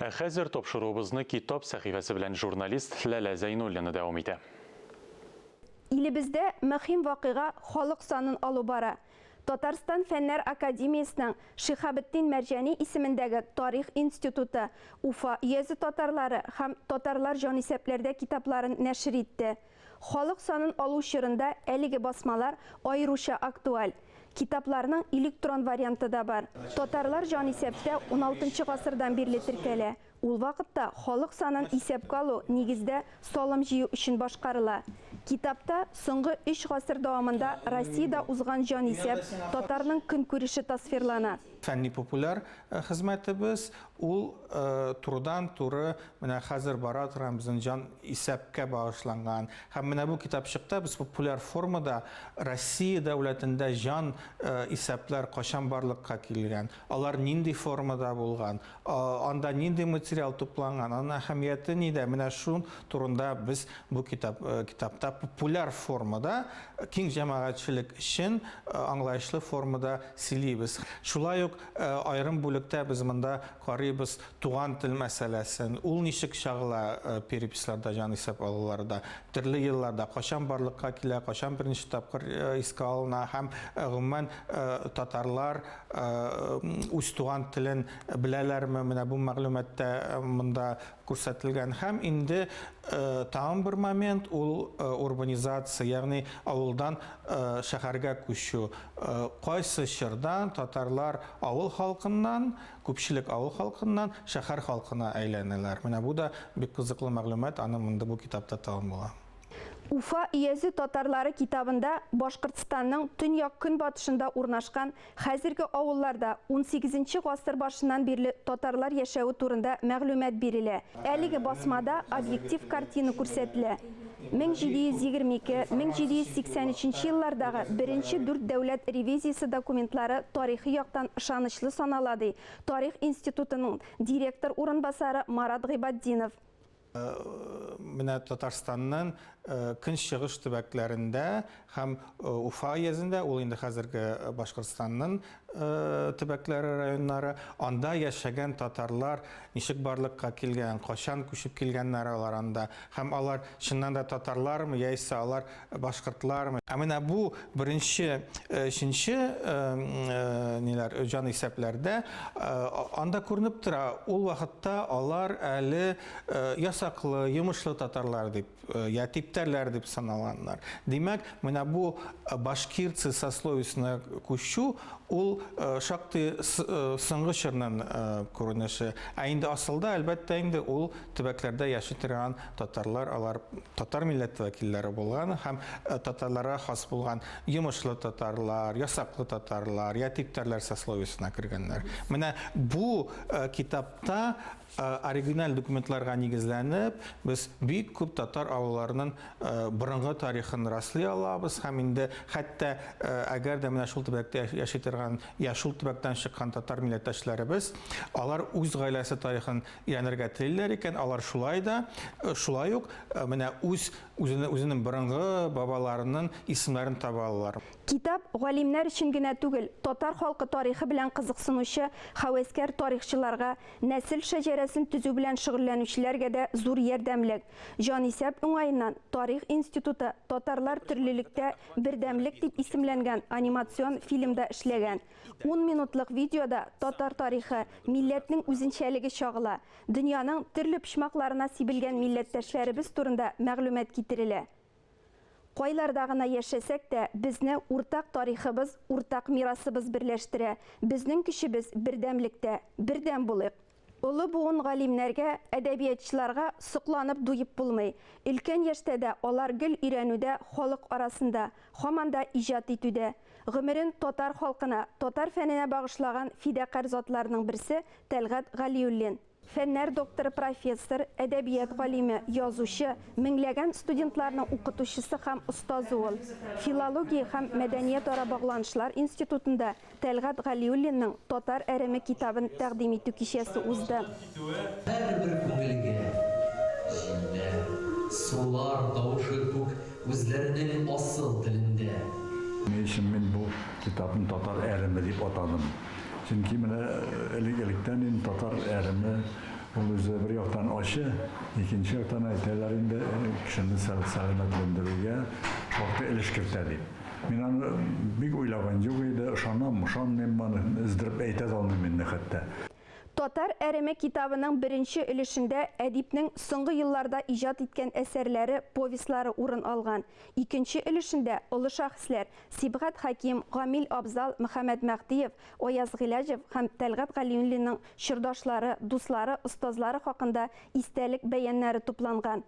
Ә хәзер тапшыруыбызны Китап сәхифәсе белән журналист Ләлә Зәйнуллина дәвам итә. Илебездә мөһим вакыйга халык санын алу бара. Татарстан Фәннәр академиясенең Шиһабетдин Мәрҗани исемендәге Тарих институты Уфа өязе татарлары һәм Татарлар җанисәпләрдә китапларын нәшер итте. Халык санын алу чорында әлеге басмалар аеруча актуаль. Китапларның электрон варианты да бар. Татарлар җанисәптә уналтынчы гасырдан бирле теркәлә. Ул вакытта халык санын исәпкә алу, нигездә, салым җыю өчен башкарыла. Китапта соңгы өч гасыр дәвамында Россиядә узган җанисәп, татарның көнкүреше тасвирлана. Фәнни-популяр хезмәтебез, ул турыдан-туры Менә хәзер бара торган безнең җан исәпкә багышланган һәм менә бу китапчыкта без популяр формада Россия дәүләтендә җан исәпләр качан барлыкка килгән, алар нинди формада булган, анда нинди материал тупланган, аның әһәмияте нидә, менә шул турында без бу китапта популяр формада, киң җәмәгатьчелек өчен аңлаешлы формада сөйлибез. Шулай ук аерым бүлектә без монда карыйбыз Туган тел мәсьәләсен, ул ничек чагыла переписьларда, җанисәп алуларда, төрле елларда, кайчан барлыкка килә, кайчан беренче тапкыр искә алына һәм, гомумән, татарлар үз туган телен беләләрме, менә бу мәгълүмат та монда күрсәтелгән. Һәм инде тагын бер момент, ул урбанизация, ягъни авылдан шәһәргә күчү. Кайсы чорда татарлар авыл халкыннан Күпчелек авыл халкыннан шәхәр халкына әйләнәләр. Менә бу да бик кызыклы мәгълүмат, аны монда бу китапта табып була. Уфа өязе татарлары китабында Башкортстанның төньяк-көнбатышында урнашкан хәзерге авылларда унсигезенче гасыр башыннан бирле татарлар яшәве турында мәгълүмат бирелә. Әлеге басмада объектив картина күрсәтелә. 1722-1783 еллардагы беренче дүрт дәүләт ревизиясе документлары тарихи яктан ышанычлы санала, ди Тарих институтының директор урынбасары Марат Гыйбатдинов. Менә Татарстанның көнчыгыш төбәкләрендә Һәм Уфа өязендә, ул инде хәзерге Башкортстанның төбәкләре, районнары, анда яшәгән татарлар ничек барлыкка килгән, кайчан күчеп килгәннәр алар анда, һәм алар чыннан да татарлармы, яисә алар башкортлармы. Ә менә бу беренче, өченче ниләр, җанисәпләрдә анда күренеп тора, ул вакытта алар әле ясаклы, йомышлы татарлар дип. Э, я типтәрләр дип саналганнар. Димәк, менә бу э, башкирцы сословисына күчү ул э, шактый соңгы чорның күренеше. Ә инде асылда, әлбәттә, инде ул төбәкләрдә яши торган татарлар, алар татар милләте вәкилләре булган һәм татарларга хас булган йомышлы татарлар, ясаклы татарлар, я типтәрләр сословисына кергәннәр. Менә бу китапта Оригиналь документларга нигезләнеп, без бик күп татар авылларының борынгы тарихын раслый алабыз һәм инде хәтта әгәр дә менә шул төбәктә яши торган я шул төбәктән чыккан татар милләттәшләребез, алар үз гаиләсе тарихын өйрәнергә телиләр икән, алар шулай да, шулай ук менә үз үзенең борынгы бабаларының исемнәрен таба алалар. Китап галимнәр өчен генә түгел, татар халкы тарихы белән кызыксынучы һәвәскәр тарихчыларга Нәсел шәҗәрәсен төзү белән шөгыльләнүчеләргә дә зур ярдәмлек. Җанисәп уңаеннан, Тарих институты Татарлар төрлелектә, бердәмлек дип исемләнгән анимацион фильмда эшләгән. Ун минутлык видеода татар тарихы, милләтнең үзенчәлеге чагыла, дөньяның төрле почмакларына сибелгән милләттәшләребез турында мәгълүмат китерелә. Кайларда гына яшәсәк тә, безне уртак тарихыбыз, уртак мирасыбыз берләштерә. Безнең көчебез, бердәмлектә. Бердәм булыйк! Олы буын галимнәргә, әдәбиятчыларга сокланып дуеп булмый. Өлкән яшьтә дә алар гел өйрәнүдә, халык арасында, һаман да иҗат итүдә. Гомерен татар халкына, татар фәненә багышлаган фидакарь затларның берсе, Тәлгать Галиуллин. Фәннәр докторы, профессор, әдәбият галиме, язучы, меңләгән студентларның укытучысы һәм остазы ул. Филология һәм мәдәниятара багланышлар институтында Тәлгать Галиуллинның Татар әреме китабын тәкъдим итү кичәсе узды. Һәрбер күңелгә җилләр, сулар тавышы күк үзләренең асыл телендә. Ни өчен мин бу китапны Татар әреме дип атадым? Чөнки менә элек-электән инде татар әреме, ул үзе бер яктан ачы, икенче яктан әйтәләр инде, кешене сәламәтләндерүгә шактый өлеш кертә дип. Мин аны бик уйлаган юк иде, ышанам, ышанмыйм аны өздереп әйтә дә алмыйм инде хәтта. Татар әреме китабының беренче өлешендә әдипнең соңгы елларда иҗат иткән әсәрләре, повестьлары урын алган, икенче өлешендә олы шәхесләр, Сибгат Хәким, Гамил Абзал, Мөхәммәд Мәһдиев, Аяз Гыйләҗев һәм Тәлгать Галиуллинның чордашлары, дуслары, остазлары хакында истәлек бәяннәре тупланган.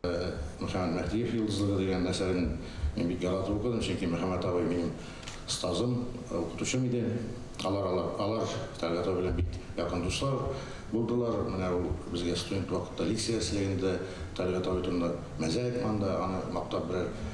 Мөхәммәд Мәһдиев йолдызлыгы дигән әсәрен мин бик яратып укыдым, чөнки Мөхәммәд абый минем остазым, укытучым иде. Алар, алар Тәлгать абый белән бик якын дуслар булдылар. Менә ул безгә студент вакытта лекция ясый иде Тәлгать абый турында, мәзә әйтмә анда, аны мактап берәр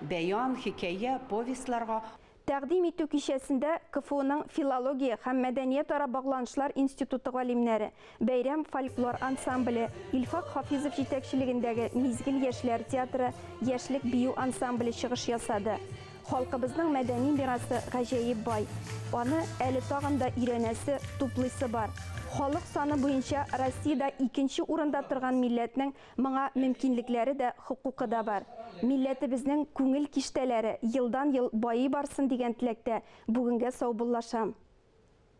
Бәян, хикәя, повестьларга. Тәкъдим итү кичәсендә КФУның филология һәм мәдәниятара багланышлар институты галимнәре, Бәйрәм фольклор ансамбле, Илфак Хафизов җитәкчелегендәге Мизгел яшьләр театры яшьлек бию ансамбле чыгыш ясады. Халкыбызның мәдәни мирасы гаҗәеп бай. Аны әле тагын да өйрәнәсе, туплыйсы бар. Халык саны буенча Россиядә икенче урында торган милләтнең Моңа мөмкинлекләре дә, хокукы да бар. Милләтебезнең күңел киштәләре елдан-ел байый барсын дигән теләктә бүгенгә саубуллашам.